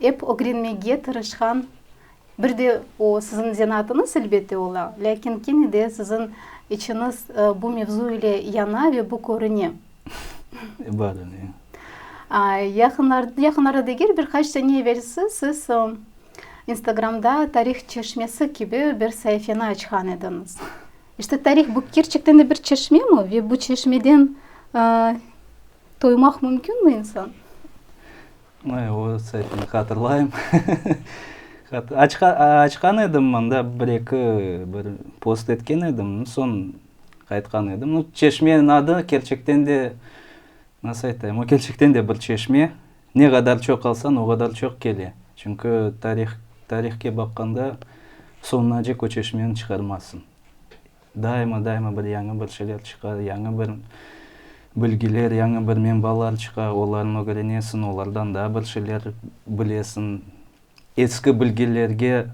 Ep ögrenmege tırışqan, bir de o, siziñ zenaatınız, elbette, ola, lâkin kene de siziñ içiñiz bu mevzu ile yana ve bu körüne. Bazen, ya. Yaqınlarda, yaqınlarda degil, bir qaç sene evel siz Instagramda Tarih çeşmesi kibi bir saifeni açqan ediñiz. İşte, tarih, bu kerçekten de bir çeşmemi ve bu çeşmeden, Toymaq mümkünmi insan? Ay, o saytnı hatırlayım. Açqan edim mında, bir-eki bir post etken edim, soñ aytqan edim. Nu, çeşmenin adı, kerçekten de, nasıl aytayım, o kerçekten de bir çeşme. Ne qadar çoq alsañ, o qadar çoq kele. Çünki tarih, tarihke baqqanda, soñunacek o çeşmeni çıqarmazsıñ. Daima-daima bir yañı bir şeyler çıqa, yañı bir bilgiler, yañı bir menbalar çıqa, olarnı ögrenesiñ, olardan daa bir şeyler bilesiñ. Eski bilgilerge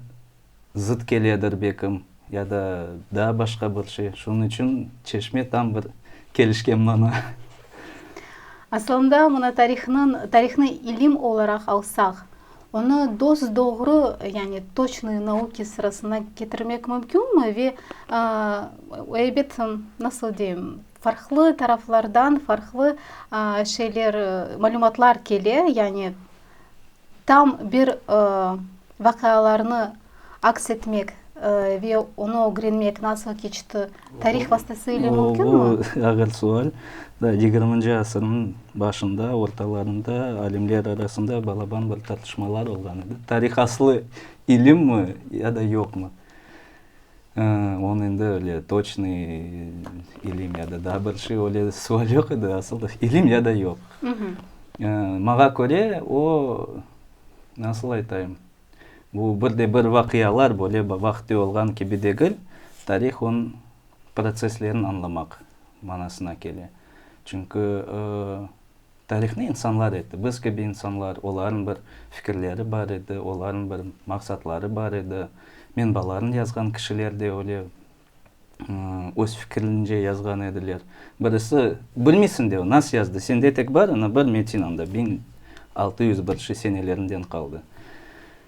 zıt keledir bekim, ya da daa başqa bir şey. Şunıñ içün Çeşme tam bir kelişken mana. Aslında mına tarihnıñ, tarihnı ilim olaraq alsaq, Onı dos-doğru, yani toçnıy nauki sırasına ketirmek mümkünmi ve, ebet, nasıl deyim, farqlı taraflardan farqlı şeyler, malümatlar kele, yani tam bir vaqialarnı aks etmek ve onı ögrenmek nasıl keçti, tarih vastasıyle mümkünmi? O, ağır sual. Yigirminci asırnıñ başında, ortalarında alimler arasında balaban bir tartışmalar olğan edi. Tarih aslı ilimmi ya da yoqmı? Onı endi öyle toçnıy ilim ya da daa bir şey, öyle sual yoq edi. Asıl ilim ya da yoq. Maña köre, o, nasıl aytayım, Bu bir de bir vaqialar böyle vaqıtı olğan kibi degil, tarih onıñ protsesslerini añlamaq manasına kele. Çünki tarihni insanlar etti, biz kibi insanlar, olarnıñ bir fikirleri bar edi, olarnıñ bir maqsatları bar edi, menbalarnı yazğan kişiler de öyle öz fikirlince yazğan ediler. Birisi, bilmiysiñ de, nasıl yazdı, sende tek bar ana bir metin anda, biñ altı yüz birinşi senelerinden qaldı.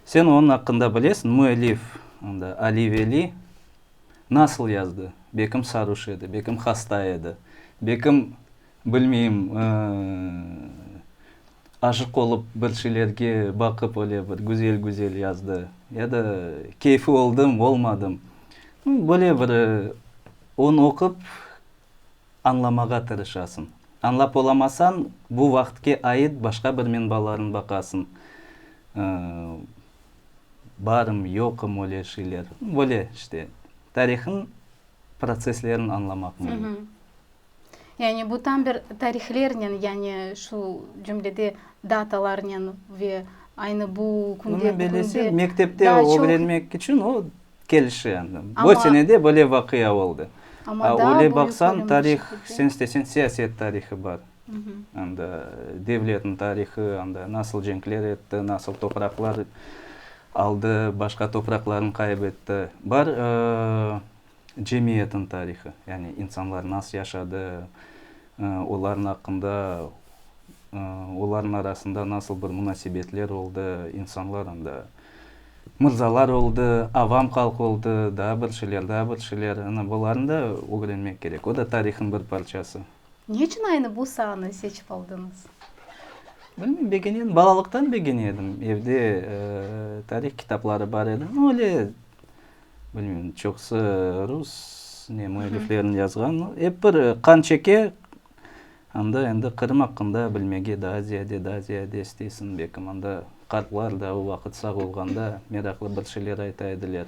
Sen onıñ aqqında bilesiñ, müellif, anda, Ali Veli, nasıl yazdı, bekim saruş edi, bekim hasta edi, bekim, bilmeyim, Aşıq olıp bir şeylerge baqıp öyle bir güzel-güzel yazdı. Ya da keyfi oldım, olmadım. Böyle bir onu oqup añlamağa tırışasıñ. Añlap olamasañ, bu vaqıtke ait başqa bir menbalarnı baqasıñ. Barım, yoqım öyle şeyler. Böyle işte tarihniñ protsesslerini añlamaq mümkün. Yani bu tam bir tarihlernen, yani şu cümlede datalarnen ve aynı bu künde, Bunı bugünde belesi mektepte daa çoq- ögrenmek içün o kelişi endi. Ama- Bu senede böyle vaqia oldı. Amma A, daa öyle büyük baqsañ, ölüm tarih, şekilde. sen isteseñ, siyaset tarihı bar. Mhmm. Anda devletniñ tarihı, anda nasıl cenkler etti, nasıl topraqlar aldı, başqa topraqlarnı qaybetti. Bar, ııı, cemiyetniñ tarihı, yani insanlar nasıl yaşadı, olarnıñ aqqında, olarnıñ arasında nasıl bir munasebetler oldı, insanlar anda mırzalar oldı, avam halq oldı, daa bir şeyler, daa bir şeyler, ana bularnı da ögrenmek kerek, o da tarihniñ bir parçası. Ne içün aynı bu saanı seçip aldıñız? Bilmeyim, begenedim, balalıqtan begenedim, evde tarih kitapları bar edi, öyle, Bilmeyim, çoqusı rus ne müelliflerniñ yazğanı. Ep bir qan çeke, anda endi Qırım aqqında bilmege daa ziyade, daa ziyade isteysiñ. Belki mında qartlar da o vaqıt sağ olğanda meraqlı bir şeyler ayta ediler.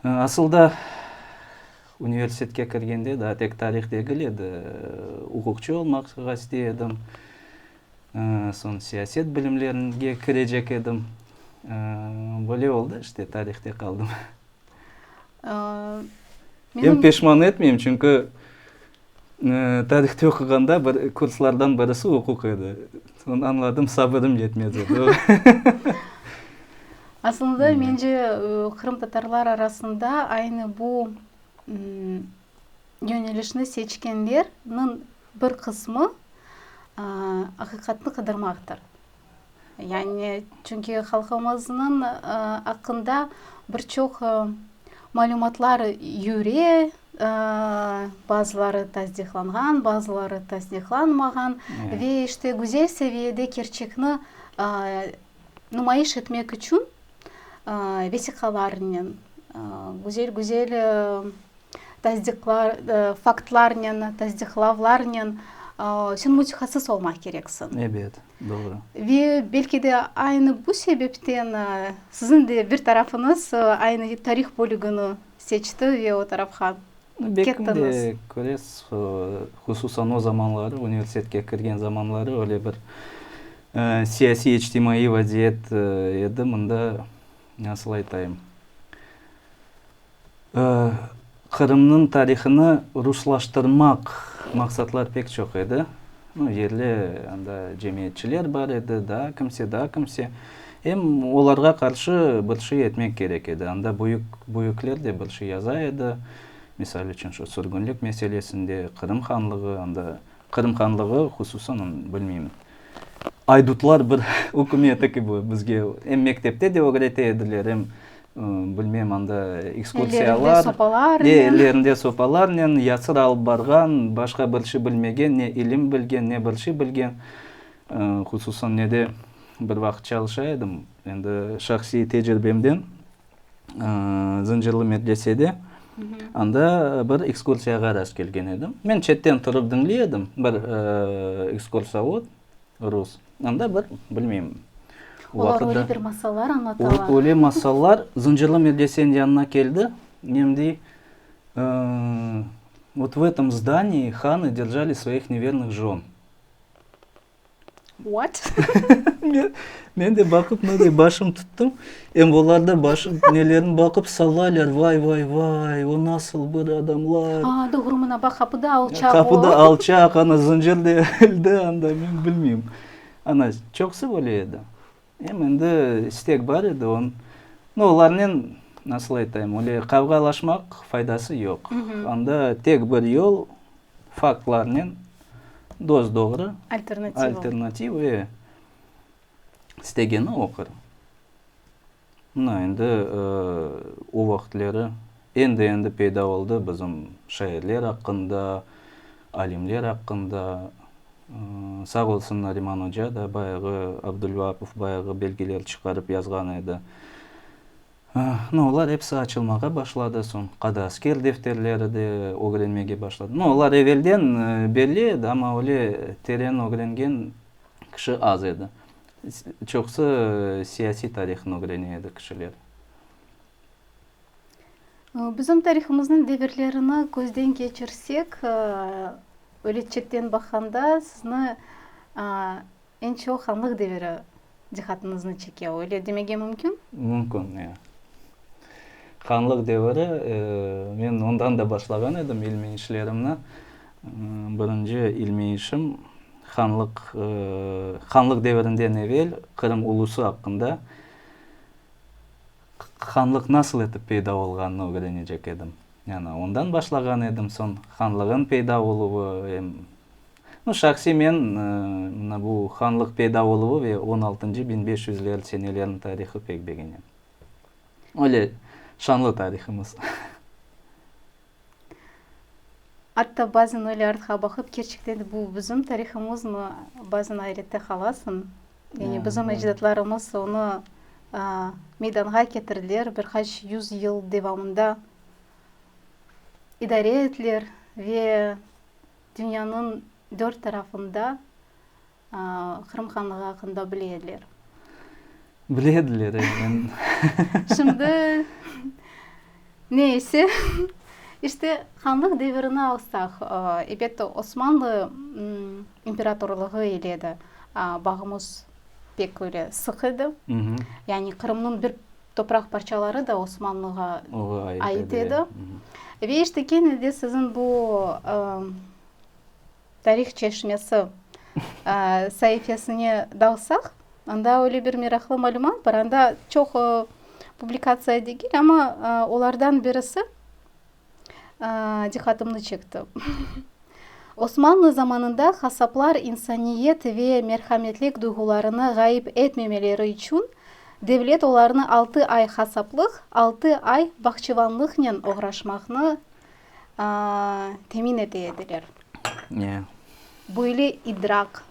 Asılda universitetke kirgende daa tek tarih degil edi, uquqçı olmaqqa istey edim. Soñ siyaset bilimlerine kirecek edim. Böyle oldı işte, tarihte qaldım. Em peşman etmeyim, çünki tarihte oquğanda kurslardan birisi uquq edi. Soñ añladım, sabırım yetmez edi. Aslında, mence, qırımtatarlar arasında aynı bu Yönelişni seçkenlerniñ bir qısmı aqiqatnı qıdırmaqtır. Yani çünki halqımıznıñ aqqında bir çoq malümatlar yüre, bazıları tasdiqlanğan, bazıları tasdiqlanmağan ve işte güzel seviyede kerçekni numayış etmek içün vesiqalarnen, güzel-güzel tasdiqlar, faktlarnen, tasdiqlavlarnen sen mütehassıs olmaq kereksiñ. Ebet, doğru. Ve belki de aynı bu sebepten siziñ de bir tarafıñız aynı tarih bölügini seçti ve o tarafqa kettiñiz. Belki de, köresiz, hususan o zamanları, universitetke kirgen zamanları öyle bir siyasiy, içtimaiy vaziyet edi, mında, nasıl aytayım, Qırımnıñ tarihını ruslaştırmaq maqsatlar pek çoq edi. Yerli anda cemiyetçiler bar edi, daa kimse, daa kimse. Em olarğa qarşı bir şey etmek kerek edi. Anda büyük, büyükler de bir şey yaza edi. Misal içün, şu sürgünlik meselesinde, Qırım hanlığı, anda Qırım hanlığı hususan, onu bilmeyim, aydutlar bir ükümeti kibi bizge em mektepte de ögrete ediler, em Bilmem, anda ekskursiyalar. Ellerinde sopalarnen. E, ellerinde sopalarnen, yasır alıp barğan, başqa bir şey bilmegen, ne ilim bilgen, ne bir şey bilgen. Hususan ne de bir vaqıt çalışa edim, endi şahsiy tecrübemden, Zıncırlı medresede, anda bir ekskursiyağa rastkelgen edim. Men çetten turıp diñley edim, bir ekskursovod rus. Anda bir, bilmeyim, o vaqıt da. Olar öyle bir masallar añlatalar. Öyle masallar. Zıncırlı medresenin yanına keldi. Em dey, vot v etom zdaniyı hanı держali svayıh nevernıh žon. What? Men de baqıp, mınday başım tuttum. Em olar da başım nelerni baqıp sallaylar, vay, vay, vay, o nasıl bir adamlar. A, doğru, mına baq, qapıda alçaq o. Qapıda alçaq, ana, zıncır da elde, anda, men bilmeyim. Ana, çoqusı böyle edi. Em endi istek bar edi, on, no, olarnen, nasıl aytayım, öyle qavğalaşmaq faydası yoq. Anda tek bir yol, faktlarnen, dost-doğru. Alternativ. Alternativ, e. istegeni oqır. Mına, endi o vaqıtları endi-endi peyda oldı bizim şairler aqqında, alimler aqqında. Sağ olsun Nariman oca da bayağı, Abdulvapov bayağı belgeler çıqarıp yazğan edi. Mına, olar episi açılmağa başladı. Soñ Qadasker defterleri de ögrenmege başladım. Mına, olar evelden belli edi, amma öyle teren ögrengen, kişi az edi. Çoqusı siyasiy tarihını ögrene edi kişiler. Bizim tarihımıznıñ devirlerini közden keçirsek, öletçekten baqanda, sizni eñ çoq hanlıq deviri diqatıñıznı çeke, öyle demege mümkün? Mümkün, ya. Hanlıq deviri, men ondan da başlağan edim ilmiy işlerimni. Birinci ilmiy işim, hanlıq, hanlıq devirinden evel Qırım ulusı aqqında, hanlıq nasıl etip peyda olğanını ögrenecek edim. Yani ondan başlağan edim, soñ hanlığın peyda oluvı, em, no, şahsiy men, mına bu hanlıq peyda oluvı ve on altıncı, biñ beş yüzler seneleriniñ tarihı pek begenem. Öyle şanlı tarihımız. Atta bazen öyle artqa baqıp, kerçekten de bu bizim tarihımızmı, bazen ayrette qalasıñ. Yani bizim ecdatlarımız onı meydanğa ketirdiler, bir qaç yüz yıl devamında idare ettiler ve dünyanıñ dört tarafında Qırım Hanlığı aqqında bile ediler. Bile ediler, emin. Şimdi, ne ise, işte, Hanlıq devirini alsaq, elbette, Osmanlı imperatorlığı ile de bağımız pek öyle sıq edi. Yani Qırımnıñ bir topraq parçaları da Osmanlığa ait edi. Ve işte, kene de siziñ bu Tarih çeşmesi saifesine dalsaq, anda öyle bir meraqlı malümat bar, anda çoq publikatsiya degil, amma olardan birisi diqqatımnı çekti. Osmanlı zamanında hasaplar insaniyet ve merhametlik duyğularını ğayıp etmemeleri içün devlet olarnı altı ay hasaplıq, altı ay bahçıvanlıqnen oğraşmaqnı temin ete ediler. Ne? Böyle idrak,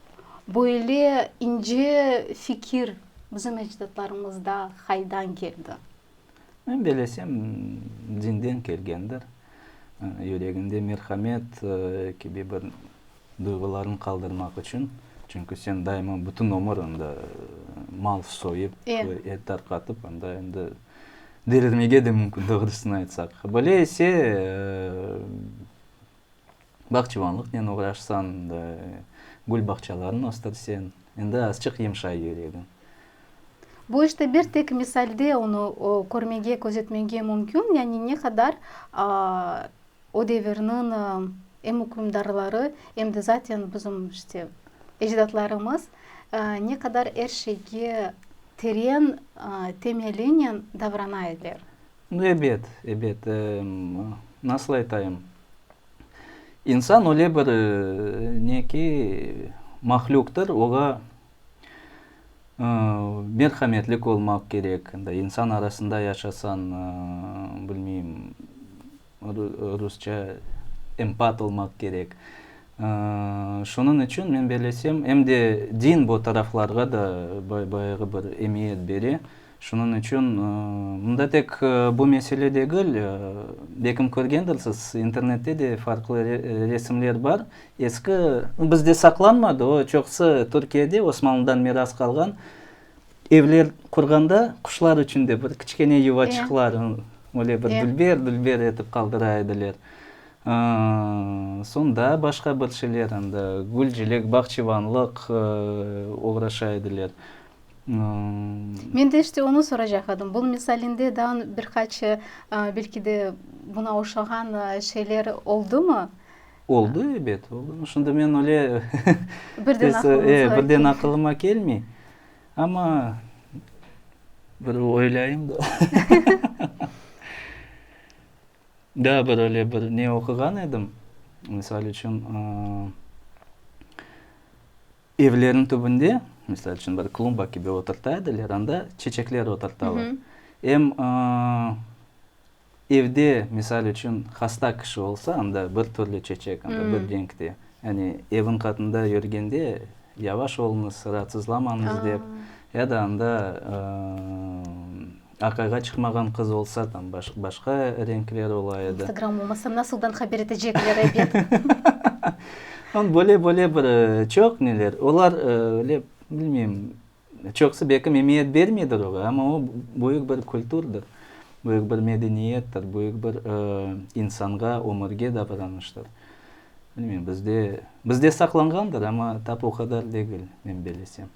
böyle ince fikir bizim ecdatlarımızda haydan keldi? Men belesem, dinden kelgendir. Yüreginde merhamet kibi bir duyğularını qaldırmaq içün, çünki sen daima bütün ömür anda mal soyıp, et tarqatıp, anda endi delirmege de mümkün, doğrusını aytsaq. Böyle ise, bağçıvanlıqnen oğraşsañ, gül bağçalarını östürseñ, endi azçıq yımşay yüregi. Bu işte bir tek misalde onı körmege, közetmege mümkün, yani ne qadar O devirniñ em ükümdarları, em de zaten bizim işte ecdatlarımız ne qadar er şeyge teren temelinen davrana ediler. Ebet, ebet, nasıl aytayım, insan öyle bir neki mahlüktır, oğa Merhametlik olmaq kerek. İnsan arasında yaşasañ, bilmeyim, rusça, empat olmaq kerek. Şunıñ içün men belesem, em de din bu taraflarğa da bayağı bir emiyet bere. Şunıñ içün mında tek bu mesele degil, belkim körgendirsiz, internette de farqlı resimler bar, eski, bizde saqlanmadı o, çoqusı Türkiyede Osmanlıdan miras qalğan evler qurğanda quşlar içün de bir kiçkene yuvaçıqlar, öyle bir dülber, dülber etip qaldıra ediler. Soñ daa başqa bir şeyler, anda gülcilik, bağçıvanlıq oğraşa ediler. Men de işte onı soracaq edim. Bunıñ misalinde daa bir qaç, belki de, buna oşağan şeyler oldumı? Oldı, ebet, oldı. Şimdi men öyle birden aqılıma kelmey. Amma bir oylâyım da. Daa bir öyle bir ne oquğan edim, misal içün, Evlerniñ tübünde, misal içün, bir klumba kibi oturta ediler, anda çeçekler oturtalar. Em evde, misal içün, hasta kişi olsa, anda bir türlü çeçek, anda bir reñkte. Yani eviñ qatında yürgende, yavaş oluñız, raatsızlamañız dep, ya da anda, Aqayğa çıqmağan qız olsa, tam başqa renkler ola edi. İnstagram olmasa, nasıldan haber etecekler ebet? Onı böyle-böyle bir çoq neler. Olar öyle, bilmeyim, çoqsı belki memiyet bermeydir oğa, amma o, büyük bir kültürdir, büyük bir medeniyettir, büyük bir insanğa, ömürge davranıştır. Bilmeyim, bizde, bizde saqlanğandır, amma tap o qadar degil, men belesem.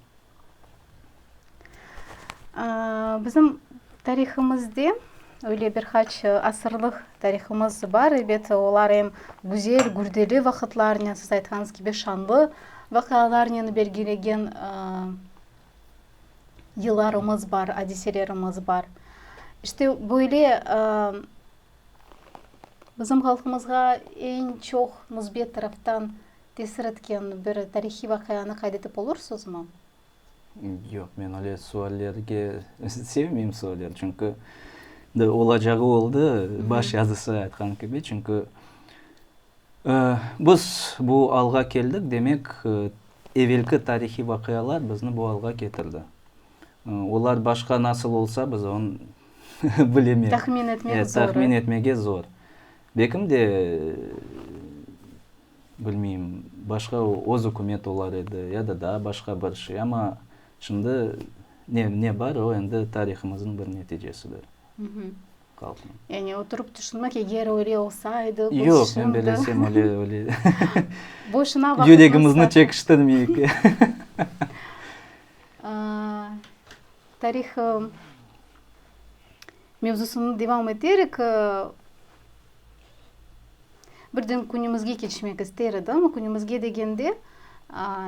Bizim tarihımızde öyle bir qaç asırlıq tarihımız bar, elbette, olar em güzel, gürdeli vaqıtlarnen, siz aytqanıñız kibi, şanlı vaqialarnen belgilegen yıllarımız bar, adiselerimiz bar. İşte böyle bizim halqımızğa eñ çoq müsbet taraftan Tesir etken bir tarihiy vaqianı qayd etip olursızmı? Yoq, men öyle suallerge, sevmeyim sualler, çünki olacağı oldı, baş yazısı aytqan kibi, çünki biz bu alğa keldik, demek, evelki tarihiy vaqialar bizni bu alğa ketirdi. Olar başqa nasıl olsa, biz onı bilemeyiz. Tahmin etmek zor. Tahmin etmege zor. Belki de, Bilmeyim, başqa öz ükümet olar edi, ya da daa başqa bir şey. Amma şimdi ne, ne bar, o endi tarihımıznıñ bir neticesidir. Qalqnıñ. Yani oturıp tüşünmek, eger öyle olsaydı, biz şimdi. Yoq, men belesem öyle, öyle. Boşuna vaqıtnı. Yüregimizni çekiştirmeyik. Tarihı. Mevzusını devam eterik, birden künümizge keçmek ister edim. Künümizge degende,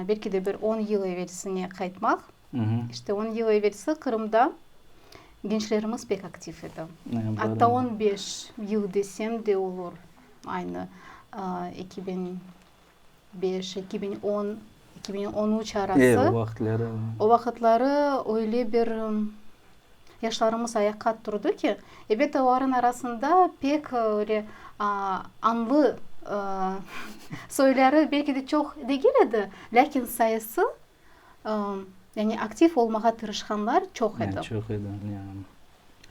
belki de bir on yıl evelsinge qaytmaq. İşte on yıl evelsi Qırımda gençlerimiz pek aktiv edi. Atta on beş yıl desem de olur, aynı eki biñ beş, eki biñ on, eki biñ on üç arası. O vaqıtları. O vaqıtları öyle bir yaşlarımız ayaqqa turdı ki, elbette, olarnıñ arasında pek öyle añlı soyları belki de çoq degil edi, lâkin sayısı, Yani aktiv olmağa tırışqanlar çoq edi. Yani çoq edi, ya.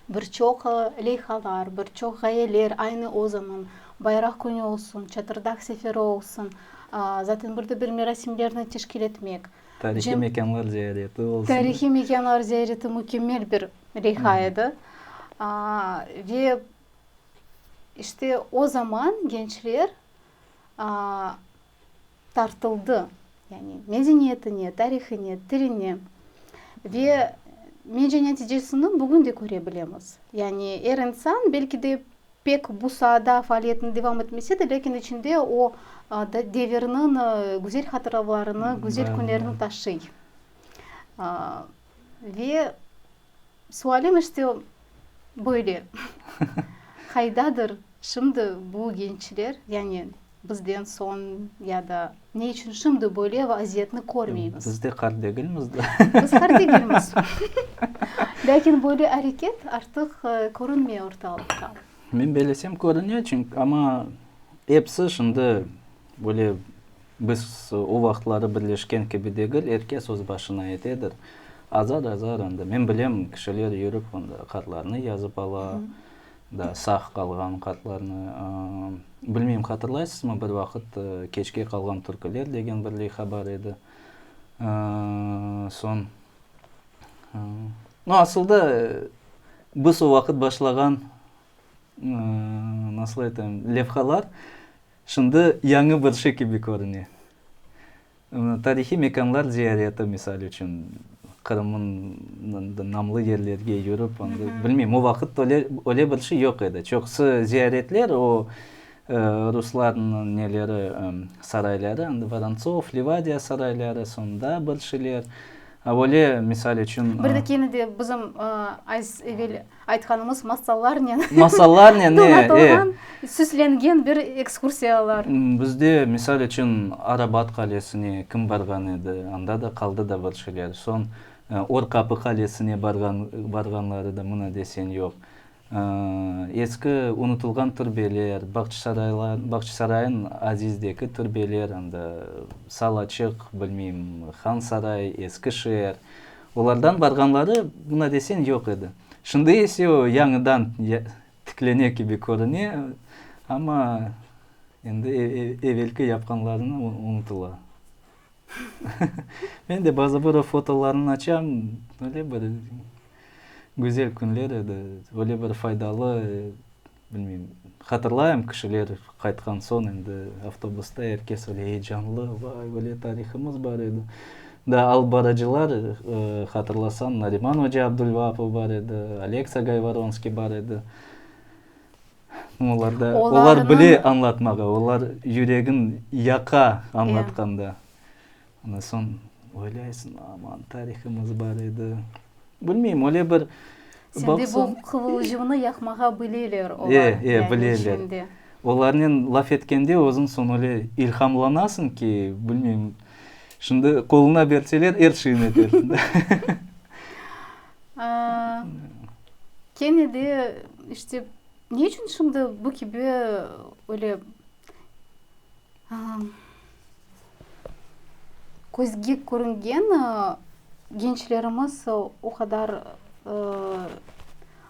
Bir çoq leyhalar, bir çoq ğayeler, aynı o zaman Bayraq künü olsun, Çatırdağ seferi olsun, zaten bir de bir merasimlerni teşkil etmek. Tarihiy mekânlar ziyareti olsun. Tarihiy mekânlar ziyareti mükemmel bir leyha edi. Ve işte o zaman gençler tartıldı, yani medeniyetine, tarihine, tiline ve mence neticesini bugün de köre bilemiz. Yani er insan belki de pek bu saada faaliyetini devam etmese de, lâkin içinde o devirniñ güzel hatıravlarını, güzel künlerini taşıy. Ve sualim işte böyle, qaydadır şimdi bu gençler, yani bizden soñ ya da ne içün şimdi böyle vaziyetni körmeymiz? Biz de qart degilmiz de. Biz qart degilmiz. Lâkin böyle areket artıq körünmey ortalıqta. Men belesem körüne, çünki, amma episi şimdi Böyle biz o vaqıtları birleşken kibi degil, er kes öz başına etedir. Azar, azar endi. Men bilem, kişiler yürip onda hatlarnı yazıp ala, da sağ qalğan hatlarnı. Bilmeyim, hatırlaysızmı, bir vaqıt Keçke qalğan türküler degen bir leyha bar edi. Soñ, no, asılda biz o vaqıt başlağan, nasıl aytayım, levhalar, Şimdi yañı bir şey kibi körüne. Tarihiy mekanlar ziyareti, misal içün, Qırımnıñ namlı yerlerge yürip, bilmeyim, o vaqıt öyle bir şey yoq edi. Çoqusı ziyaretler, o ruslarnıñ neleri, sarayları, Vorontsov, Livadiya sarayları, soñ daa bir şeyler. Böyle, misal içün. Bir de kene de bizim az evel. Aytqanımız masallarnen donatılğan, süslengen bir ekskursiyalar. Bizde, misal içün, Arabat qalesine kim barğan edi, anda da qaldı da bir şeyler. Soñ Orqapı qalesine barğanları da mına desen yoq. Eski unutılğan türbeler, Bağçasarayın Azizdeki türbeler, anda Salaçıq, bilmeyim, Hansaray, Eskişeer. Olardan barğanları buna desen yoq edi. Şimdi ise o yañıdan tiklene kibi körüne, amma endi evelki yapqanlarını unutıla. Men de bazı bir o fotolarnı açam, öyle bir güzel künler edi, öyle bir faydalı Bilmeyim, hatırlayım, kişiler qaytqan soñ endi avtobusta er kes öyle eyecanlı, vay, öyle tarihımız bar edi. Daa alıp barıcılar, hatırlasañ, Nariman oca Abdulvaapov bar edi, Aleksa Gayvoronskiy bar edi. Olar da, olar bile añlatmağa, olar yüregin yaqa añlatqanda. Ondan soñ oylaysıñ, aman, tarihımız bar edi. Bilmeyim, öyle bir baqsam. Sende bu qıvılcımnı yaqmağa bileler olar. E, e, bileler. Olarnen laf etkende özüñ soñ öyle ilhamlanasıñ ki, bilmeyim, şimdi qoluna berseler, er şeyni edersiñ. Kene de, işte, ne içün şimdi bu kibi öyle, Közge körüngen gençlerimiz o qadar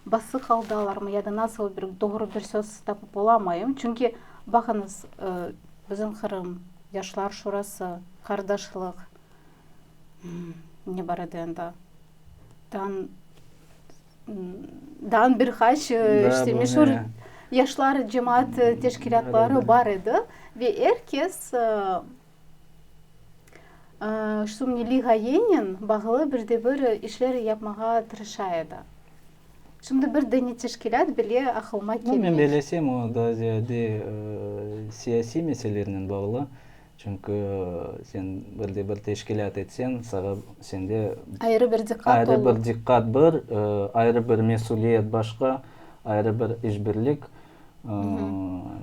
basıq aldalarmı ya da nasıl bir doğru bir söz tapıp olamayım. Çünki, baqıñız, bizim Qırım, Yaşlar şurası, qardaşlıq, ne bar edi endi? Daa bir qaç işte meşur yaşlar cemaat teşkilâtları bar edi ve er kes şu milliy ğayennen bağlı bir de bir işler yapmağa tırışa edi. Şimdi bir dene teşkilât bile aqılıma kelmey. Men bilesem, o daa ziyade siyasiy meselelernen bağlı. Çünki sen bir de bir teşkilât etsen, saña sende. Ayrı bir diqqat olur. Ayrı bir diqqat bir, ayrı bir mesüliyet başqa, ayrı bir işbirlik.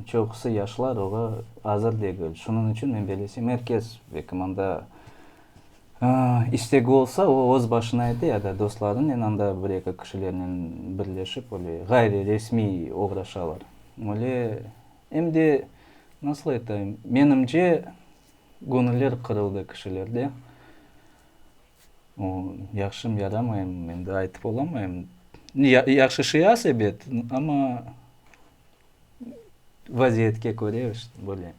Çoqusı yaşlar oña azır degil. Şunıñ içün men böyle desem, er kes belki mında istegi olsa, o öz başına ete ya da dostlarınen anda bir-eki kişilernen birleşip, böyle ğayriresmiy oğraşalar. Öyle. Em de, nasıl aytayım, menimce, göñüller qırıldı kişilerde. O, yahşım, yaramayım, endi aytıp olamayım. Ya, yahşı şey az ebet, amma vaziyetke köre, böyle.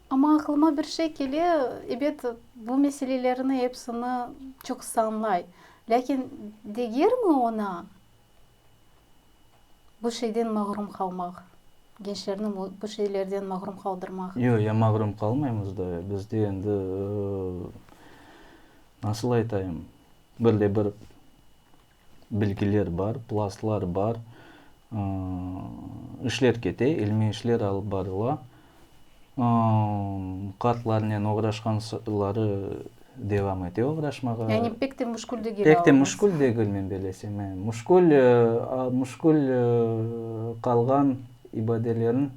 Amma aqlıma bir şey kele, ebet, bu meselelerni epsini çoqusı añlay, lâkin degermi oña? Bu şeyden mağrum qalmaq, gençlerni bu şeylerden mağrum qaldırmaq. Yoq, ya mağrum qalmaymız da, bizde endi, nasıl aytayım, bir de bir bilgiler bar, plastlar bar, işler kete, ilmiy işler alıp barıla. Kartlarnen oğraşqan soları devam ete oğraşmağa. Yani pek de muşkül degil ağalar. Pek de muşkül degil men belesem. Muşkül, muşkül qalğan ibadelerin,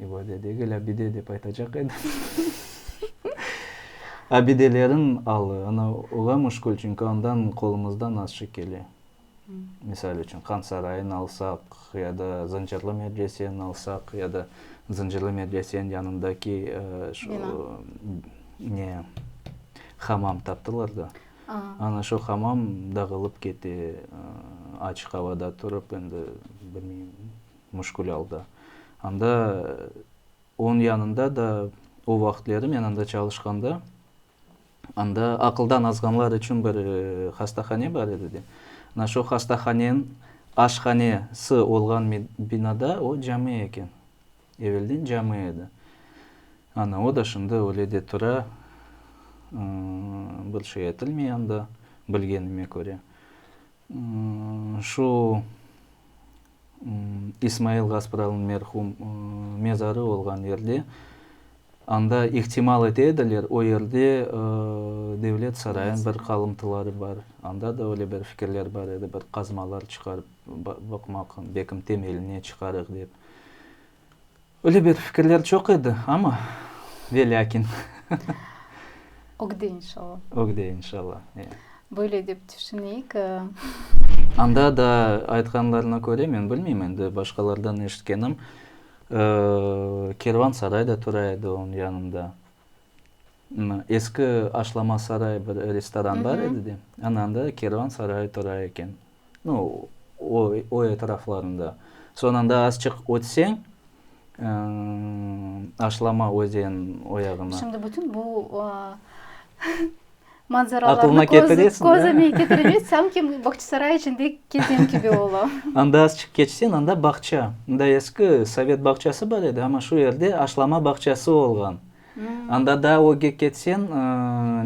ibade degil, abide dep aytacaq edim, abidelerin alı. Ola muşkül, çünki ondan qolumızdan azçıq kele. Misal içün, Qan Sarayını alsaq, ya da Zıncırlı medreseni alsaq, ya da Zıncırlı medresenin yanındaki şu ne, hamam taptılar da. Ana şu hamam dağılıp kete, açıq avada turıp, endi bilmeyim, müşkül alda. Anda onıñ yanında da, o vaqıtları men anda çalışqanda, Anda aqıldan azğanlar içün bir hastahane bar edi, de. Ana şu hastahanen aşhanesi olğan binada o cami eken. Evelden cami edi. Ana o da şimdi öyle de tura, bir şey aytılmay anda, bilgenime köre. Şu İsmail Gaspralnıñ merhum mezarı olğan yerde, anda ihtimal ete ediler, o yerde devlet sarayınıñ bir qalımtıları bar. Anda da öyle bir fikirler bar edi, bir qazmalar çıqarıp baqmaq, belki temeline çıqarıq dep. Öyle bir fikirler çoq edi, amma ve lâkin. Ögde inşalla. Ögde inşalla, ya. Böyle dep tüşüneyik. Anda da aytqanlarına köre, men bilmeyim endi, başqalardan eşitkenim, kervansaray da tura edi onıñ yanında. Eski Aşlama saray bir restoran bar edi de, ana anda kervansaray tura eken. No, o etraflarında. Soñunda azçıq ötseñ, Aşlama özen oyağına. Şimdi bütün bu manzaralarnı közüme ketiremez, sanki Bağçasaray içinde kezem kibi ola. Anda azçıq keçseñ, anda bağça. Anda eski sovet bağçası bar edi, amma şu yerde Aşlama bağçası olğan. Anda daa ögge ketseñ,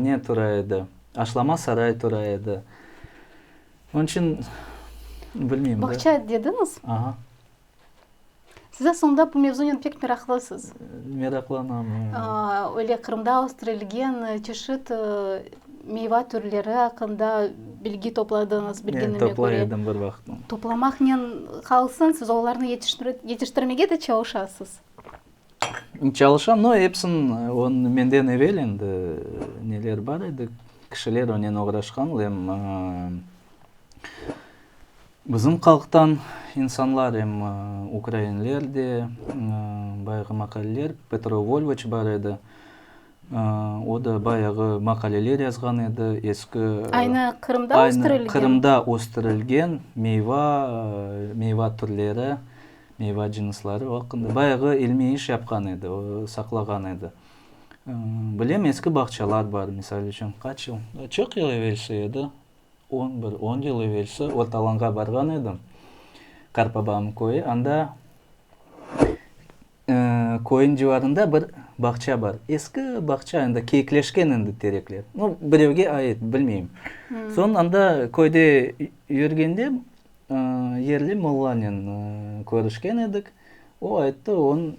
ne tura edi, Aşlama saray tura edi. Onıñ içün, bilmeyim. Bağça dediñiz? Aha. Siz aslında bu mevzunen pek meraqlısız. Meraqlanam, eee. Öyle Qırımda östürilgen çeşit meyva türleri aqqında bilgi topladıñız, bilginime köre. Toplay edim bir vaqıt. Toplamaqnen qalsın, siz olarnı yetiştirmege de çalışasız. Çalışam, no epsin menden evel endi neler bar edi, kişiler onen oğraşqan, lem bizim qalqtan insanlar, em ukrainler de, bayağı maqaleler, Petro Volvıç bar edi, o da bayağı maqaleler yazğan edi, eski, aynı Qırımda östürilgen, aynı Qırımda östürilgen meyva, meyva türleri, Meyva cınısları aqqında bayağı ilmiy iş yapqan edi, o saqlağan edi. Bilem, eski bağçalar bar, misal içün, qaç yıl, çoq yıl evelsi edi, on bir, on yıl evelsi Ortalanğa barğan edim, qarpabamnıñ köyü, anda köyniñ civarında bir bağça bar, eski bağça, endi keyikleşken endi terekler, no, birevge ait, bilmeyim. Soñ anda köyde yürgende, Yerli mollanen körüşken edik. O ayttı, onıñ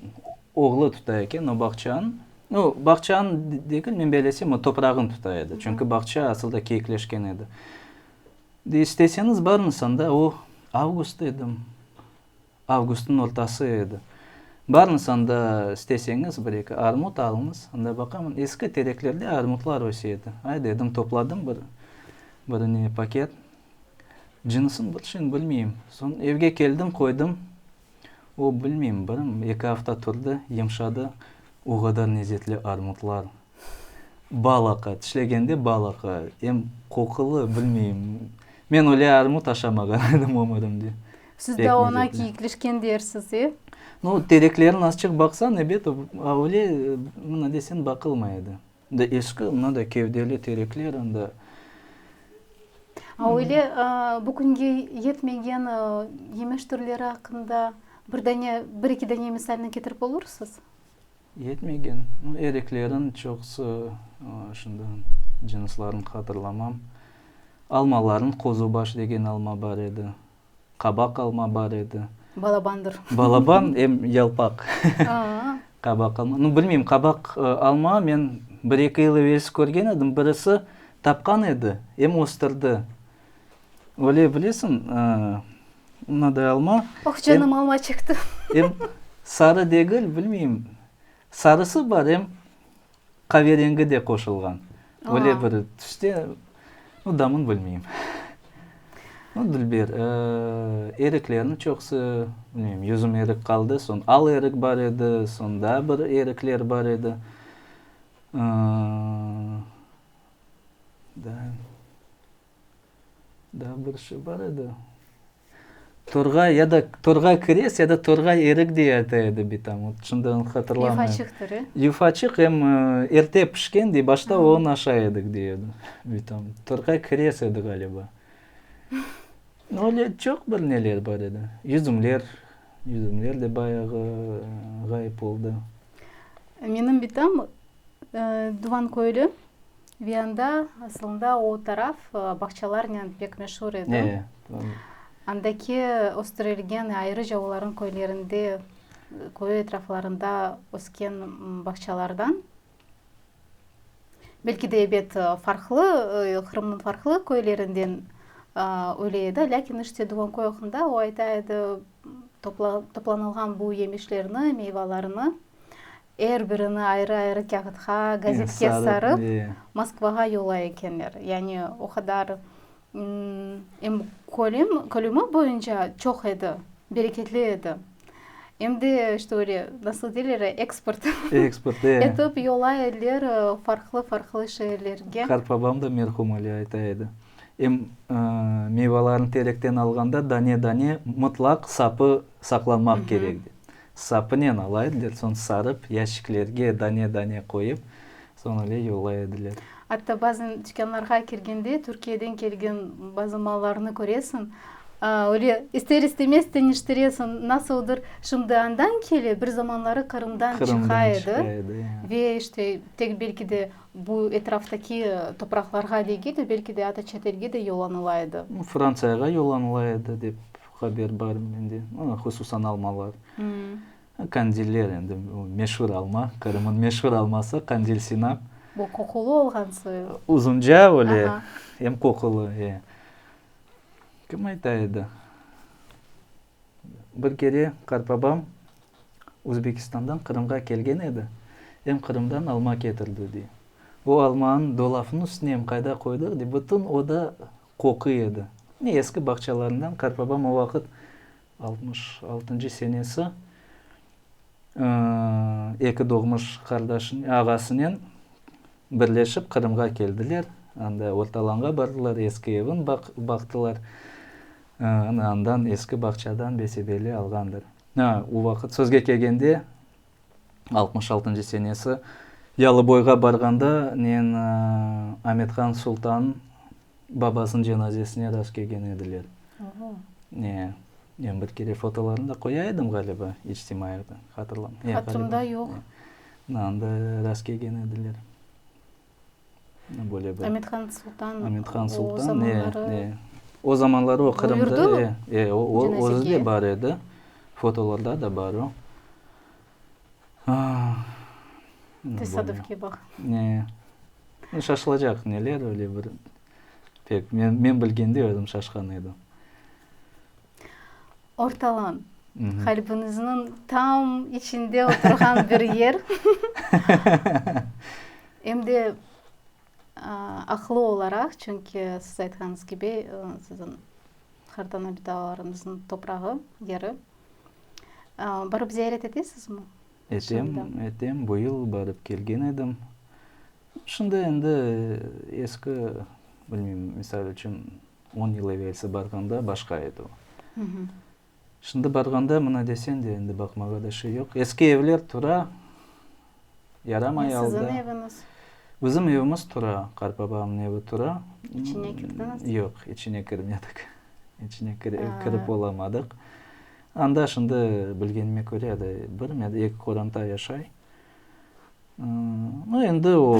oğlu tuta eken o bağçanı. No, bağçanı degil, men beylesem, o toprağını tuta edi. Çünki bağça asılda keyikleşken edi. İsteseñiz, barıñız anda. O avgust edi. Avgustnıñ ortası edi. Barıñız anda, isteseñiz, bir-eki armut alıñız. Anda baqaman, eski tereklerde armutlar öse edi. Ay, dedim, topladım bir, bir ne, paket. Cınısın bir şeyni bilmeyim. Soñ evge keldim, qoydım. O, bilmeyim, bir eki afta turdı, yımşadı. O qadar nezzetli armutlar. Bal aqa, tişlegende bal aqa, em qoqulı, bilmeyim. Men öyle armut aşamağan edim ömürimde. Siz de Pekmez oña etine. kiyikleşken dersiz, e? No, tereklerin azçıq baqsañ, ebet, o, a öyle, mına deseñ, baqılmay edi. Da eski, mına da kevdeli terekler, anda. A öyle, a, bu künge yetmegen, a, yemiş türleri aqqında bir dane, bir-iki dane misalni ketirip olursız? Yetmegen. Ereklerin çoqusı şunda, cinslarnı hatırlamam. Almaların qozubaş degen alma bar edi, qabaq alma bar edi. Balabandır. Balaban, em yalpaq. Qabaq alma. Nu, bilmeyim, qabaq alma men bir-eki yıl evelsi körgen edim, birisi tapqan edi, em östürdi. Öyle bilesiñ, mınaday alma. Oh, canım, alma çıqtı. Em sarı degil, bilmeyim, sarısı bar, em qaverengi de qoşulğan. Öyle bir tüste, no damın bilmeyim. No, dülber, eriklerniñ çoqusı, bilmeyim, yüzüm erik qaldı, soñ al erik bar edi, soñ daa bir erikler bar edi. Daa, daa bir şey bar edi. Torğay ya da Torğay kires ya da Torğay erik diye ayta edi bitam. O şimdi onu hatırlamıyorum. Yufaçıq türü. Yufaçıq em erte pişken dey, başta onı aşa edik dey edi. Bitam. Torğay kires edi ğaliba. Öyle çoq bir neler bar edi. Yüzümler, yüzümler de bayağı ğayıp oldı. Menim bitam Duvan köyli Viyanda asılında o taraf bağçalarnen pek meşur edi. Andaki östürilgen ayrıca olarnıñ köylerinde, köy etraflarında ösken bağçalardan. Belki de ebet farqlı, Qırımnıñ farqlı köylerinden öyle edi, lâkin işte Duvan köy aqqında o ayta edi, toplanılğan bu yemişlerni, meyvalarnı Er birini ayrı-ayrı kâğıtqa, gazetke sarıp, Moskvağa yola ekenler. Yani o qadar, em kölüm, kölümi boyunca çoq edi, bereketli edi. Em de, işte öyle, nasıl deyler, eksport etip yola ediler farqlı-farqlı şeerlerge. Qartbabam da merhum öyle ayta edi. Em meyvalarnı terekten alğanda dane-dane mıtlaq sapı saqlamaq kerek. Sapınen alay ediler, soñ sarıp, yaşiklerge dane-dane qoyıp, soñ öyle yollay ediler. Atta bazan tükânlarğa kirgende Türkiyeden kelgen bazı mallarnı köresiñ, öyle ister-istemez teniştiresiñ, nasıldır, şimdi andan kele, bir zamanları Qırımdan çıqa edi ve işte tek belki de bu etraftaki topraqlarğa degil de, belki de ata çet elge de yollanıla edi. Frantsiyağa yollanıla edi dep Haber bar mende, hususan almalar, Kandiller endi, meşur alma, Qırım'ın meşur alması, Kandil Sinap. Bu qoqulı olğan soy. Uzunca öyle, em qoqulı, e. Kim ayta edi? Bir kere qartbabam Uzbekistan'dan Qırım'ğa kelgen edi, em Qırım'dan alma ketirdi, dey. O almanı dolafnıñ üstüne em qayda qoydu, dey, bütün oda Qoquy edi. Mine, eski bağçalarından qartbabam o vaqıt, altmış altıncı senesi, eki doğmuş qardaşı, ağasınen birleşip Qırımğa keldiler. Anda Ortalanğa bardılar, eski evin baqtılar. Ana, andan, eski bağçadan besedeli alğandır. O vaqıt, sözge kelgende, altmış altıncı senesi Yalıboyğa barğanda nen Amethan Sultan babasınıñ cenazesine rast kelgen ediler. Ya, men bir kere fotolarını da qoya edim ğaliba içtimaiyede, hatırlamay. Hatırımda yoq. Anda rast kelgen ediler. böyle bir. Amithan Sultan. Amithan Sultan, e, e. O zamanları o Qırımda. Buyurdu mu? E, e, o, o, özü de bar edi. Fotolarda da bar o. Tesadüfke baq. E, e, şaşılacaq neler, öyle bir. Pek, men, men bilgende özüm şaşqan edim. Ortalan, qalbiniznıñ tam içinde oturğan bir yer, em de aqlı olaraq, çünki siz aytqanıñız kibi, siziñ hartana bitalarıñıznıñ toprağı, yeri. Barıp ziyaret etesinizmi? Etem, etem, bu yıl barıp kelgen edim. Şimdi endi eski, bilmeyim, misal içün, On yıl evelsi barğanda başqa edi o. Şimdi barğanda mına desen de, endi baqmağa da şey yoq. Eski evler tura, yaramay aldı. Sizin eviñiz? Bizim evimiz tura, qarpabamnıñ evi tura. İçine kirdiñiz? Yoq, içine kirmedik. İçine kirip olamadıq. Anda şimdi bilgenime köre, bir ya da eki qoranta yaşay.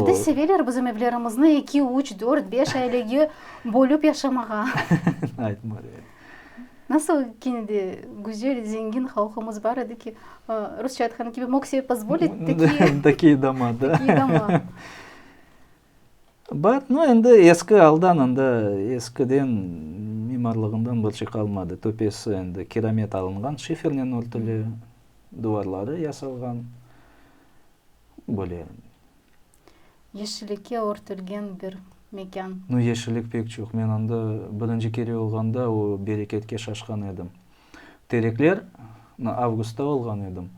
Bir de seveler bizim evlerimizni eki, üç, dört, beş ailege bölüp yaşamağa. Nasıl kene de güzel, zengin halqımız bar edi ki, rusça aytqan kibi, mog sebi pozvolit takii doma. Bar, no endi eski aldan, anda eskiden mimarlığından bir şey qalmadı. Töpesi endi kiramet alınğan, şifernen örtüli, duvarları yasalğan, böyle. Yeşillikke örtülgen bir mekân. No, yeşillik pek çoq. Men anda birinci kere olğanda o bereketke şaşqan edim. Terekler, avgustta olğan edim,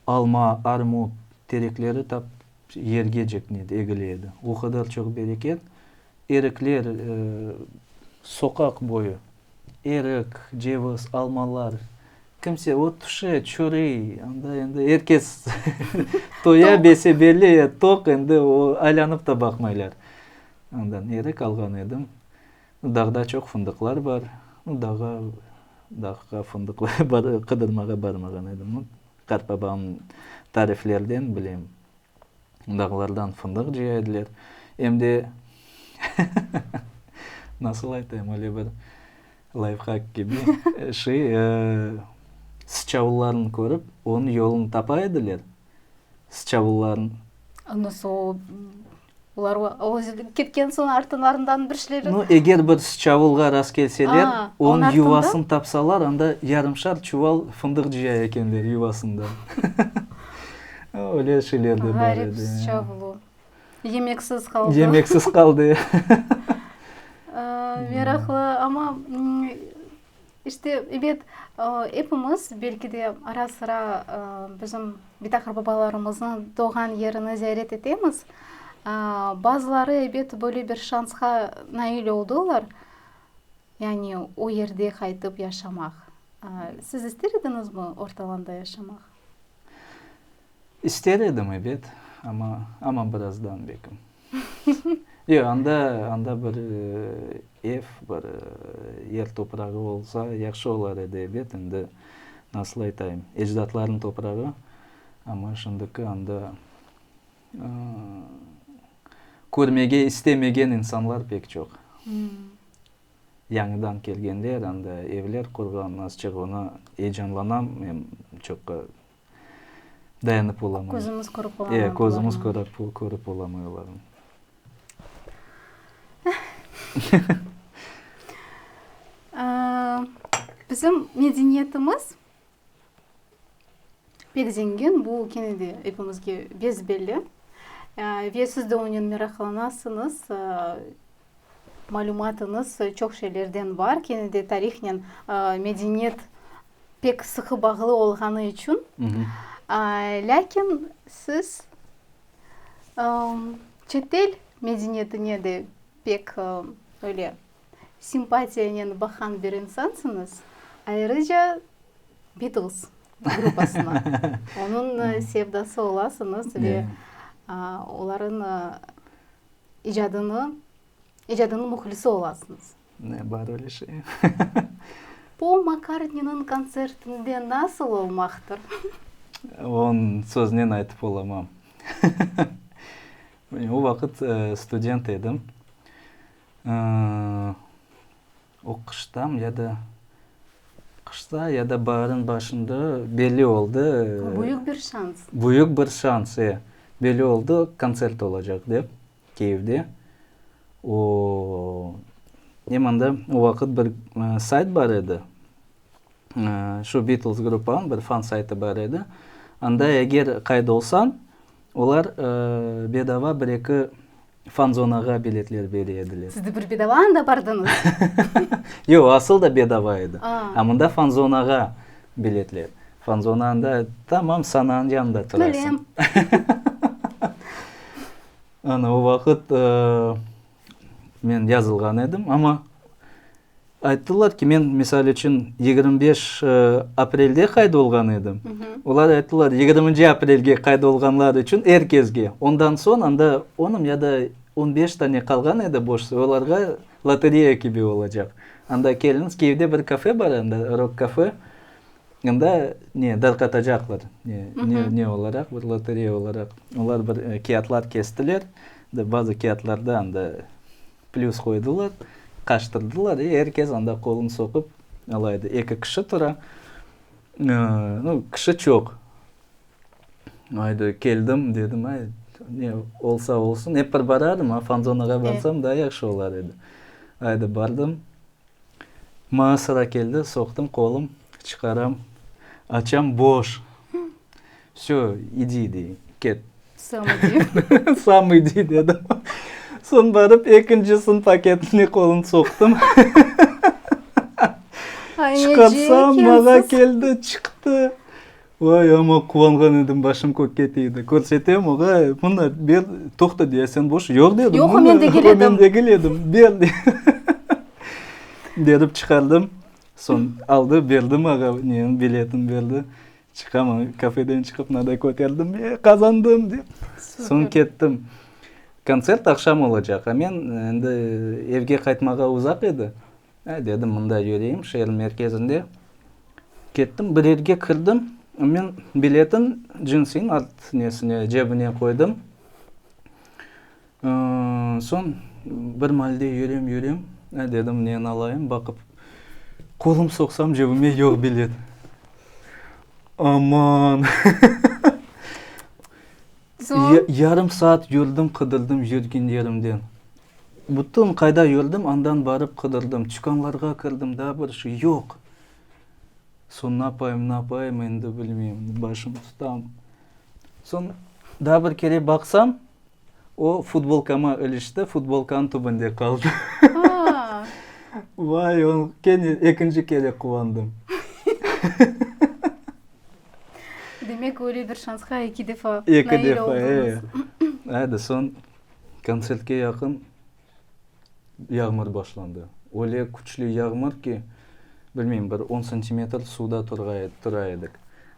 alma, armut terekleri tap, Yerge ceknedi, egile edi. O qadar çoq bereket. Erikler, soqaq boyu erik, ceviz, almalar. Kimse ot pişe, çörey, anda endi er kes toya, bese belli, toq, endi o aylanıp da baqmaylar. Ondan erik alğan edim. Dağda çoq fındıqlar bar. Dağa, dağğa fındıq qıdırmağa barmağan edim. Qartbabam tariflerden bilem, dağlardan fındıq cıya ediler, em de, nasıl aytayım, öyle bir layfhak kibi şey, sıçavullarnı körip, onıñ yolunı tapa ediler, sıçavullarnı. Nasıl o? Olar özü ketken soñ artınlarından bir şlebek. No, eger bir sıçavulğa rast kelseler, onıñ yuvasın tapsalar, anda yarımşar çuval fındıq cıya ekenler yuvasında. Öyle şeyler de bar edi. Ğarip sıçavulu. Yemeksiz qaldı. Yemeksiz qaldı. Meraqlı, amma İşte, ebet, epimiz, belki de, ara-sıra bizim bitakır babalarımıznıñ doğğan yerini ziyaret etemiz. Bazıları, ebet, böyle bir şansqa nail oldılar, yani o yerde qaytıp yaşamaq. Siz ister ediñizmi ortalanda yaşamaq? İster edim, ebet, amma, amma birazdan belkim. Yoq, anda, anda bir ev, bir yer toprağı olsa yahşı olar edi, ebet, endi nasıl aytayım, ecdatlarnıñ toprağı, amma şimdiki anda körmege istemegen insanlar pek çoq. Yañıdan kelgenler, anda evler qurğan, azçıq oña eyecanlanam, men çoqqa dayanıp olamay. Közümiz körüp olamay. Eee, közümiz körüp olamay olarnı. Bizim medeniyetimiz pek zengin, bu kene de epimizge besbelli. Ve siz de onen meraqlanasıñız, malümatıñız çoq şeylerden bar, kene de tarihnen medeniyet pek sıqı bağlı olğanı içün, lâkin siz çetel medeniyetine de pek öyle simpatiyanen baqan bir insansıñız, ayrıca Beatles gruppasına onıñ sevdası olasıñız ve olarnıñ icadınıñ muhlisi olasıñız. Ne bar öyle şey? Pol Makkartniniñ kontsertinde nasıl olmaqtır? Onı söznen aytıp olamam. O vaqıt student edim. Oquştam ya da qışta ya da baarın başında belli oldı. Büyük bir şans. Büyük bir şans, e. Belli oldı, kontsert olacaq dep. Kiyevde. O, em anda o vaqıt bir sayt bar edi, şu Beatles gruppanıñ bir fan saytı bar edi. Anda eger qayd olsañ, olar bedava bir-eki fan-zonağa biletler bere ediler. Siz de bir bedava anda bardıñız? Yoq, asıl da bedava edi. A. A mında fan-zonağa biletler. Fanzona anda, tamam, Sananıñ yanında turasıñ. Bilem. Ana o vaqıt men yazılğan edim, amma ayttılar ki, men, misal içün, yigirmi beş aprelde qayd olğan edim, olar ayttılar, yigirminci aprelge qayd olğanlar içün er kezge, ondan soñ anda onım ya da on beş tane qalğan edi boş, olarğa lotereya kibi olacaq. Anda keliñiz, Kiyevde bir kafe bar anda, rok-kafe, Anda ne, darqatacaqlar, ne, ne olaraq, bir lotereya olaraq. Olar bir kâğıtlar kestiler, bazı kâğıtlarda anda plüs qoydılar, qaştırdılar, e, er kes anda qolun soqup ala edi. Eki kişi tura, nu, kişi çoq. Aydı, keldim, dedim, ay, ne olsa olsun, ep bir baradım, a, fanzonağa barsam daa yahşı olar edi. Aydı, bardım. Maña sıra keldi, soqtım qolum, çıqaram, açam, boş. Vsё, idi, dey, ket. Sam idi. Sam idi, dedim. Soñ barıp ekinci sınıf paketine qolum soqtım. Çıqarsam, maña keldi, çıqtı. Vay, amma quvanğan edim, başım kökke tiydi. Körsetem oña, mına, ber, toqta, diye, sen boş, yoq, dedim. Yoq, o men degil edim. O men degil edim, ber, berip çıqardım. Soñ aldı, berdi maña neñi, biletin berdi. Çıqam, ana, kafeden çıqıp, mınaday köterdim, e, qazandım, dep. Soñ kettim. Kontsert aqşam olacaq, a men endi evge qaytmağa uzaq edi. Ay, dedim, mında yüreyim, şeer merkezinde. Kettim, bir yerge kirdim, men biletin cinsiñ art nesine, cebine qoydım. Soñ bir malde yürem, yürem, ay, dedim, neni alayım, baqıp, qolum soqsam, cebime yoq bilet. Aman! Yarım saat yürdim, qıdırdım yürgen yerimden. Bütün qayda yürdim, andan barıp qıdırdım. Tükânlarğa kirdim, da bir şey yoq. Soñ napayım, napayım, endi bilmeyim, başım tutam. Soñ da bir kere baqsam, o futbolkama ilişti, futbolkanıñ tübünde qaldı. Vay, ekinci kere quvandım. Demek, öyle bir şansqa eki defa nail oldunız. Eki defa, e. Edi, soñ kontsertke yaqın yağmur başlandı. Öyle küçlü yağmur ki, bilmeyim, bir on santimetr suvda tura edik.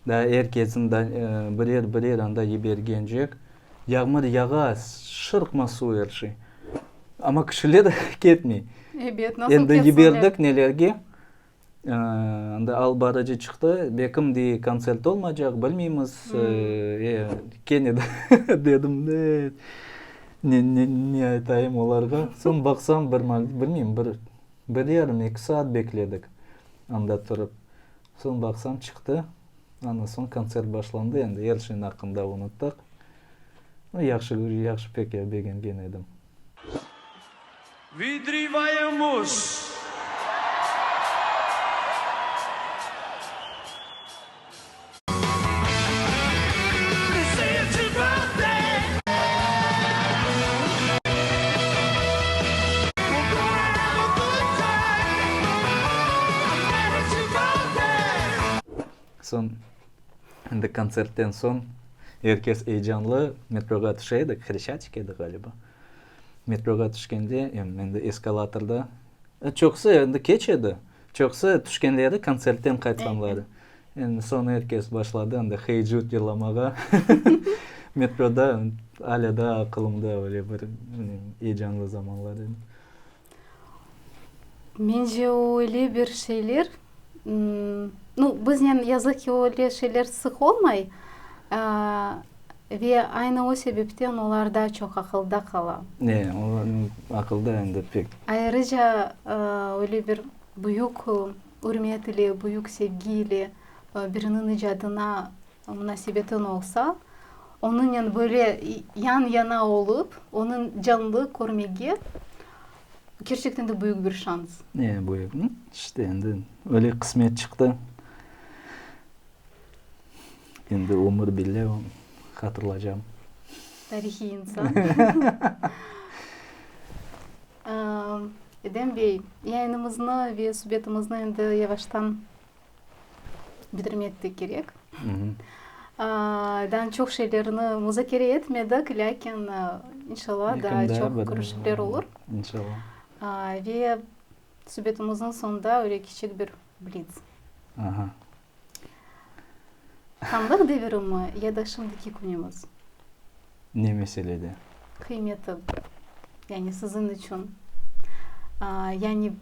Daa er kesin birer-birer anda yibergence, yağmur yağa, şırqma suv er şey. Amma kişiler ketmey. Ebet, nasıl ketsinler? Endi yiberdik nelerge, Endi al barıcı çıqtı. Bekim dey, kontsert olmaycaq, bilmeymiz. E, kene de dedim, ne, ne aytayım olarğa. Soñ baqsam, bir mal, bilmeyim, bir, bir yarım, eki saat bekledik anda turıp. Soñ baqsam, çıqtı. Andan soñ kontsert başlandı. Endi er şeyniñ aqqında unuttıq. Yahşı, yahşı pek begengen edim. Vıdrivayımız, Soñ, endi kontsertten soñ, er kes eyecanlı metroğa tüşe edik, Xreşatik edi, ğaliba. Metroğa tüşkende, em endi eskalatorda, e, çoqusı endi keç edi, çoqusı tüşkenleri kontsertten qaytqanları. Endi soñ er kes başladı endi Hey Jude yırlamağa. Metroda alâ da aqılımda böyle bir, bilmirim, eyecanlı zamanlar edi. Mence o öyle bir şeyler, no, biznen yazıq ki, öyle şeyler sıq olmay, ve aynı o sebepten olar daa çoq aqılda qala. E, olarnıñ aqılda endi pek. Ayrıca, öyle bir büyük ürmet ile, büyük sevgi ile biriniñ icadına. Munasebetin olsa, onınen böyle yan-yana olıp, onıñ canlı körmege kerçekten de büyük bir şans. E, büyük. İşte endi öyle qısmet çıqtı. Endi ömür bile hatırlaycam. Tarihiy insan. Edem bey, yayınımıznı ve subetimizni endi yavaştan Bitirmek de kerek. Daa çoq şeylerni muzakere etmedik, lâkin inşallah daa çoq körüşüvler olur. İnşallah. Ve subetimiziñ soñunda öyle kiçik bir blitz. Aha. Hanlıq devirimi ya da şimdiki künümiz? Ne meselede? Qıymeti, yani siziñ içün. Yani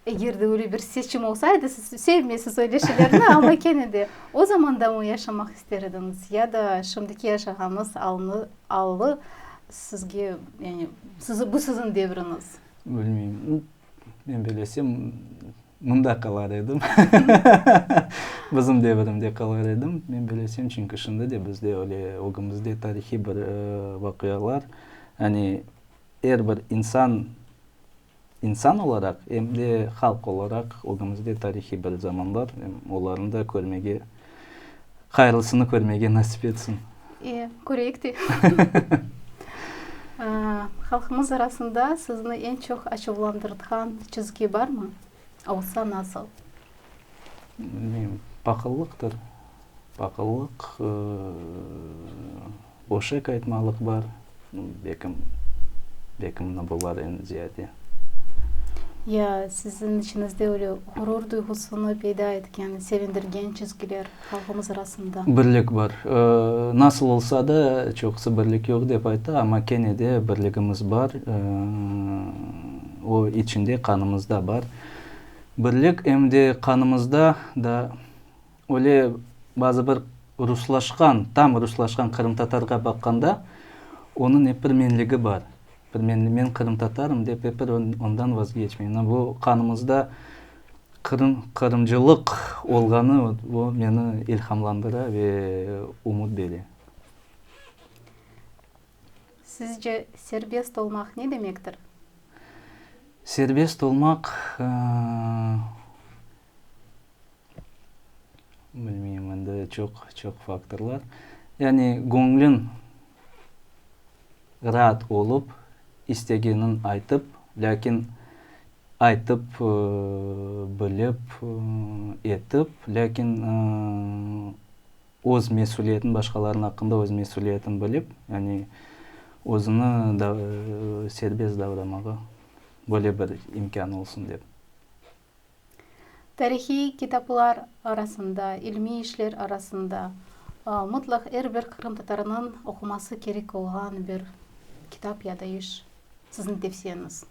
Eger de öyle bir seçim olsaydı, siz sevmeysiz öyle şeylerni ama kene de o zamanda mı yaşamaq ister ediñiz ya da şimdiki yaşağanıñız allı sizge, yani bu siziñ devriñiz? Bilmeyim. Men belesem, mında qalar edim. Bizim devrimde qalar edim, men belesem, çünki şimdi de bizde öyle ögümizde tarihiy bir vaqialar, yani er bir insan, İnsan olaraq, em de halq olaraq ögümizde tarihiy bir zaman bar, olarnı da körmege, hayırlısını körmege nasip etsin. E, köreyik de. Halqımız arasında sizni eñ çoq açuvlandırtqan çizgi barmı? Olsa, nasıl? Bilmeyim, paqıllıqtır. Paqıllıq. O şey qaytmalıq bar, bekim, bekimni bular eñ ziyade. Ya siziñ içiñizde öyle ğurur duyğusını peyda etken, sevindirgen çizgiler halqımız arasında? Birlik bar. Nasıl olsa da, çoqusı birlik yoq dep ayta, amma kene de birligimiz bar. O içinde, qanımızda bar birlik, em de qanımızda da. Öyle bazı bir ruslaşqan, tam ruslaşqan qırımtatarğa baqqanda, onıñ ep bir menligi bar. Bir men, men qırımtatarım dep ep bir ondan vazgeçmey. Mına bu qanımızda qırım, qırımcılıq olğanı o meni ilhamlandıra ve umut bere. Sizce serbest olmaq ne demektir? Serbest olmaq, ııı, Bilmeyim, endi çoq, çoq faktorlar. Yani göñlün raat olıp, istegeniñ aytıp, lâkin aytıp, bilip, etip, lâkin öz mesüliyetin, başqalarnıñ aqqında öz mesüliyetin bilip, yani özüni serbest davramağa böyle bir imkân olsun dep. Tarihiy kitaplar arasında, ilmiy işler arasında mutlaq er bir qırımtatarınıñ oquması kerek olğan bir kitap ya da iş, siziñ tevsiyeñiz?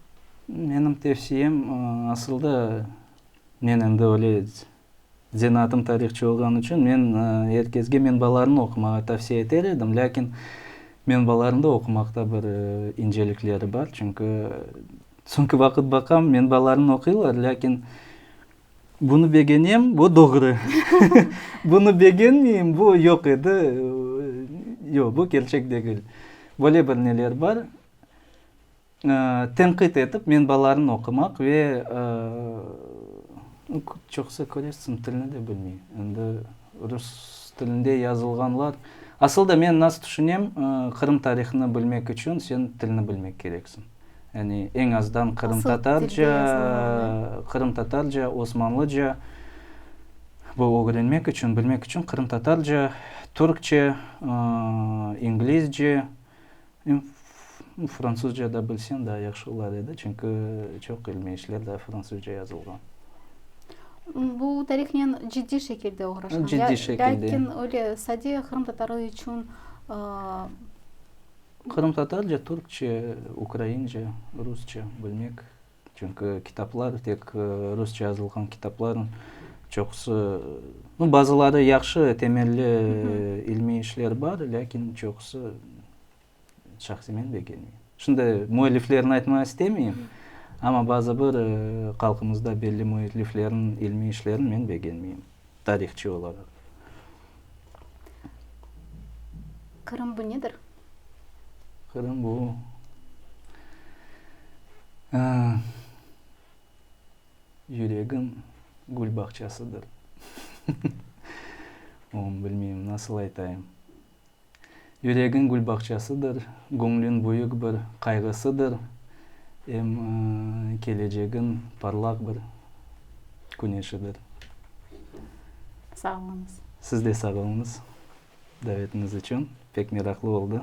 Menim tevsiyem, asılda men endi öyle zenaatım tarihçı olğanı içün men er kezge menbalarnı oqumağa tavsiye eter edim, lâkin menbalarında oqumaqta bir incelikleri bar, çünki Çünki vaqıt baqam, menbalarım oquylar, lâkin bunı begenem, bu doğru, bunı begenmeyim, bu yoq edi, yoq, bu kerçek degil. Böyle bir neler bar. Tenqit etip, menbalarnı oqumaq ve çoqusı, körersiniz, tilni de bilmey. Endi, Rus tilinde yazılğanlar. Asılda men nasıl tüşünem, Qırım tarihını bilmek içün sen tilni bilmek kereksiñ. Yani eñ azdan qırımtatarca, qırımtatarca, osmanlıca bu ögrenmek içün, bilmek içün qırımtatarca, türkçe, inglizce, Fransuzca da bilsen daa yahşı olar edi, çünki çoq ilmiy işler daa fransuzca yazılğan. Bu tarihnen ciddiy şekilde oğraşqan. Ciddiy şekilde. Lâkin öyle sade qırımtatarlar içün. Qırımtatarca, türkçe, ukraince, rusça bilmek. Çünki kitaplar, tek rusça yazılğan kitaplarnıñ çoqusı, no, bazıları yahşı, temelli ilmiy işler bar, lâkin çoqusı şahsiy men begenmeyim. Şimdi müelliflerni aytmaq istemeyim, amma bazı bir halqımızda belli müelliflerniñ ilmiy işlerini men begenmeyim. tarihçı olaraq. Qırım bu nedir? Qırım bu, yüregim gül bağçasıdır. Onu bilmeyim, nasıl aytayım. Yüregiñ gülbağçasıdır, göñlüñ büyük bir qayğısıdır, em kelecegiñ parlaq bir küneşidir. Sağ oluñız. Siz de sağ oluñız davetiñiz içün. Pek meraqlı oldı.